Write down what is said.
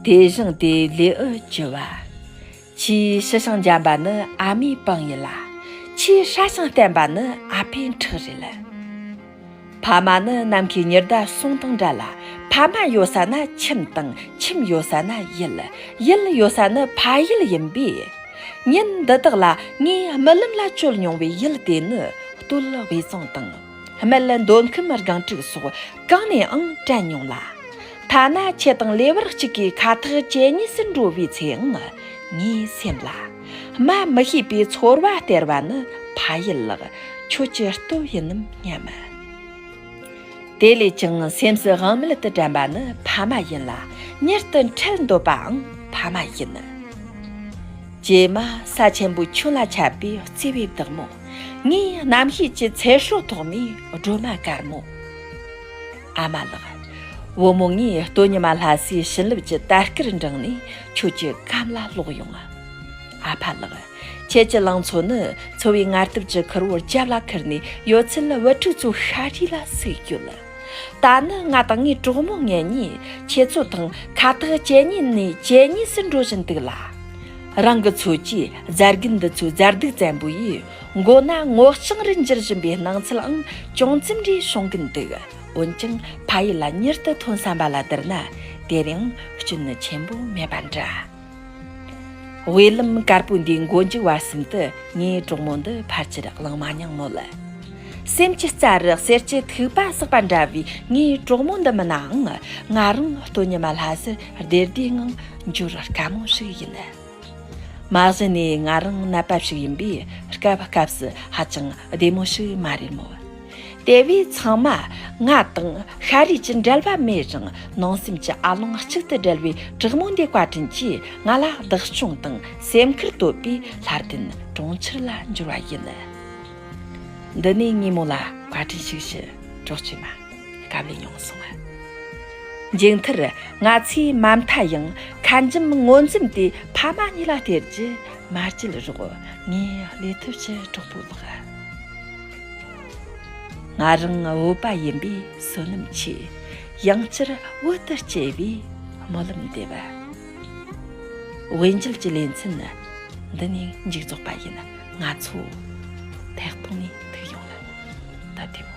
དེ་བཞིན་དེ་ལས་ཨུ་བྱི་བ། ཕྱིའི་ཤི་ཤིང་འཇམ་པ་ནི་ཨ་མའི་པང་ཡིན་ལ། ཕྱིའི་ཧྲ་ཞིང་བརྟན་པ་ནི་ཨ་ཕའི་འཁྲིག་རེད་ལ། ཕ་མ་ནི་ནམ་མཁའི་ཉི་ཟླ་གསུམ་དང་འདྲ་ལ། ཕ་མ་ཡོད་ས་ན་ཁྱིམ་དང་ཁྱིམ་ཡོད་ས་ན་ཡུལ། ཡུལ་ཡོད་ས་ནི་ཕ་ཡུལ་ཡིན་པས། ཉིན་འདི་དག་ལ་ངས་རྨི་ལམ་ལ་བསྐྱོད་མྱོང་བའི་ཡུལ་དེ་ནི་སྟོད་དབུས་གཙང་དང། སྨད་འདོད་ཁམས་སྒང་དྲུག་སོགས་གང་ནའང་དྲན་མྱོང་ལ། ཐ་ན་ཁྱི་དང་ལེ་བར་གཅིག་གིས་ཁ་ཐག་གཅད་གཉིས་སུ་འགྲོ་བའི་ཚེའང་ངའི་སེམས་ལ། སྨྲ་མི་ཤེས་པའི་ཚོར་བ་སྟེར་བ་ནི་ཕ་ཡུལ་ལགས་ཁྱོད་ཀྱི་སྟོབས་ཡིན་ནམ་སྙམ། དེ་ལས་ཀྱང་སེམས་སུ་དབང་མེད་དུ་དྲན་པ་ནི་ཕ་མ་ཡིན་ལ་མྱུར་དུ་འཕྲལ་འདོད་པའང་ཕ་མ་ཡིན། རྗེས་མ་ས་ཆེན་པོའི་ཁྱོན་ལ་ཁྱབ་པའི་བརྩེ་བའི་བདག་མོ། ངའི་རྣམ་ཤེས་ཀྱི་ཚལ་ཧྲོལ་ཐོག་མའི་སྒྲོལ་མ་དཀར་མོ། ཨ་མ་ལགས། བུ་མོ་ངའི་སྟོད་ཉི་མ་ལྷ་སའི་བྱིན་རླབས་ཀྱི་དར་སྐར་འབྲངས་ནས་ཁྱོད་ཀྱི་གམ་ལ་ལོག་ཡོང་ང། ཨ་ཕ་ལགས། ཁྱེད་ཀྱི་ལང་ཚོ་ནི་འཚོ་བའི་ངར་སྟབས་ཀྱི་ཁུར་བོར་རྒྱབ་ལ་ཁུར་ནས་ཡོད་ཚད་ལ་བུ་ཕྲུག་ཚོ་ཤ་རུས་ལ་ཟུག་ཡོད་ལ། ད་ནི་ང་དང་ངའི་གྲོགས་མོ་ངེད་གཉིས་ཁྱེད་ཚོ་དང་ཁ་ཐག་གཅད་ཉེས་ནས་གཅད་ཉེས་སུ་འགྲོ་བཞིན་འདུག་ལ། རང་གི་འཚོ་བཅུད་རྫ་རྒན་འདི་ཚོའི་རྫ་རྡུགས་བཙན་པོ་ཡིས་མགོ་ན་སྔོ་ལྕང་རི་འགྱུར་བཞིན་པའི་སྣང་ཚུལའང་ཅུང་རྩིམ་འདྲིས་བྱུང་གིན་འདུག་འོན་ཀྱང་ཕ་ཡུལ་ལ་མྱུར་དུ་ཐོན་བསམ་པ་ལ་བསྡུར་ན་དེར་ཡང་སྐྱོན་ཆེན་པོ་མེད་པ་འདྲ། དབུས་ལམ་དཀར་པོའི་འདིའི་མགོ་མཇུག་བར་གསུམ་དུ་ངའི་གྲོགས་མོ་འདི་ཕར་ཆེར་བླངས་མ་མྱངས་མོད། སེམས་ཀྱི་རྩ་རི་གསེར་གྱི་ཐིགས་པ་བསགས་པ་འདྲ་བའི་ངའི་གྲོགས་མོ་འདི་མིན་ནའང་ང་རང་སྟོན་ཉི་མ་ལྷ་སར་བདེ་བདེའི་ངང་འབྱོར་དཀའ་མོ་ཞིག་ཡིན། མ་གཞི་ནས་ང་རང་ནད་པ་ཞིག་ཡིན་པས་སྐབས་སྐབས་ཧ་ཅང་བདེ་མོ་ཞིག་མ་རེད་མོད། དེ་བས་ཚང་མ་ང་དང་ཤ་རུས་ཀྱི་འབྲེལ་བ་མེད་རུང་ནང་སེམས་ཀྱི་ཨ་ལོང་གཅིག་ཏུ་སྦྲེལ་བའི་དྲག་མོ་འདི་བཀའ་དྲིན་གྱིས་ང་ལ་བདག་སྐྱོང་དང་སེམས་ཁུར་བསྟོད་པས་ལྷར་བརྟེན་གྲོང་ཁྱེར་ལ་འབྱོར་བ་ཡིན། འདི་ནས་དངོས་མོ་ལ་བཀའ་དྲིན་ཞིག་ཞུ་གྲོགས་བཅོས་མ། དགའ་བས་ཡོངས་བཟུང་བ། མཇུག་མཐར་ང་ཚོས་མ་མཐའ་ཡང་ཁ་འཇམ་ངོ་འཛུམ་དེ་ཕ་མ་གཉིས་ལ་སྟེར་རྒྱུ་མ་བརྗེད་རོགས། ངས་ལས་ཐོབ་ཕྱིར་གྲོགས་པོ་ལགས། ང་རང་བོད་པ་ཡིན་པས་བསོད་ནམས་ཆེ། ཡང་བསྐྱར་བོད་དུ་སྐྱེ་བའི་སྨོན་ལམ་འདེབས། དབྱིན་ཇུལ་གྱི་ལེ་ཚན་འདི་ནས་མཇུག་རྫོགས་པ་ཡིན། ང་ཚོ་ཐེག་ཐུང་ནས་ཐུག་ཡོང་ལ་ད་དེ་མོ།